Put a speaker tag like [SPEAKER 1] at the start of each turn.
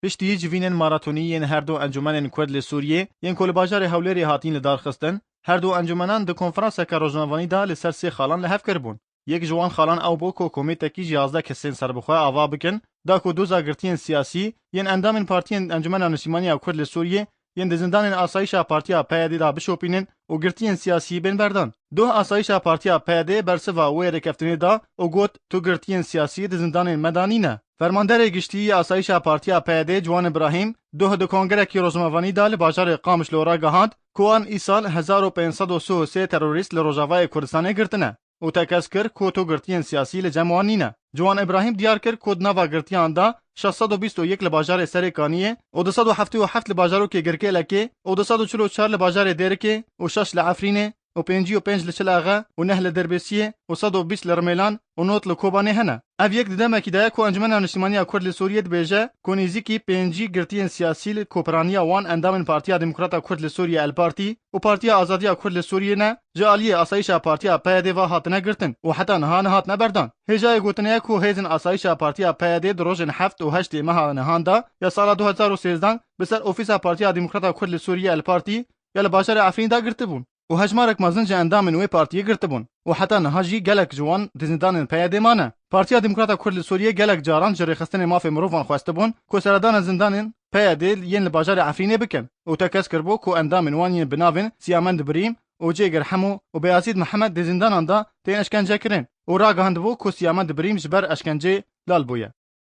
[SPEAKER 1] Piştî civînên maratonî yên her du encûmenên Kurd li Sûriyê yên ku li bajarê Hewlêrê hatîn lidarxistin, her du encûmenan di konferanseke rojnavanî de li ser sê xalan li hev kiribûn. Yek ji wan xalan ew bû ku komêtekî ji yazdeh kesên serbixwe ava bikin da ku doza girtiyên siyasî yên endamên partiyên Encûmena Niştîmanî ya Kurd li Sûriyê yên di zindanên asayîşa Partiya PYD'ê de bişopînin û girtiyên siyasî bên berdan. Doh asayîşa Partiya PYD'ê bersiva wê rêkeftinê da û got, Tu girtiyên siyasî di zindanên me de nîne. Fermanderê Giştî yê Asayîşa Partiya PYD'ê Ciwan Îbrahîm doh di kongerekî rojnamevanî de li bajarê Qamişlo ragihand ku wan îsal hezar û pênc sed û sih û sê terorîst li Rojavayê Kurdistanê girtine. û tekez kir ku tûgirtiyên siyasî li cem wan nîne. Ciwan Îbrahîm diyar kir ku di nava girtiyan de şeş sed û bîst û yek li bajarê Serê Kaniyê û du sed û heftê û heft li bajarokê Girkêlekê û du sed û çil û çar li bajarê Dêrikê û şeş li Efrînê û pêncî û pênc li Çilexe û neh li Dirbêsiyê û sed û bîst li Rimêlan û nod li Kobanê hene. Ev yek di demekî de ye ku Encumena Niştimaniya Kurd li Sûriyê dibêje ku nêzîkî pêncî girtiyên siyasî li koperaniya wan endamên Partiya Demokrata Kurd li Sûriyê, El Partî, û Partiya Azadiya Kurd li Sûriyê ne ji aliyê asayîşa Partiya PYD'ê ve hatine girtin û heta niha nehatine berdan. Hêjayê gotinê ye ku hêzên asayîşa Partiya PYD'ê di rojên heft û heştê meha nihan de ya sala du hezar û sêzdeh bi ser ofîsa Partiya Demokrata Kurd li Sûriyê El Partî ya li bajarê Efrînê de girtibûn û hejmarek mezin ji endamên wê partiyê girtibûn û heta niha jî gelek ji wan di zindanên PYD'ê mane. Partiya Demokrata Kurd li Sûriyê gelek caran ji rêxistinê mafê mirovan xwestibûn ku seredana zindanên, PYD yên li bajarê Efrînê bikin û te kes kiribû ku endamên wan yên bi navên Siyamend Birîm û Cêgir Hemû û Beyazîd Mihemed di zîndanan de tên eşkencekirin û ragihandibû ku Siyamend Birîm ji ber eşkenceyê lal bûye.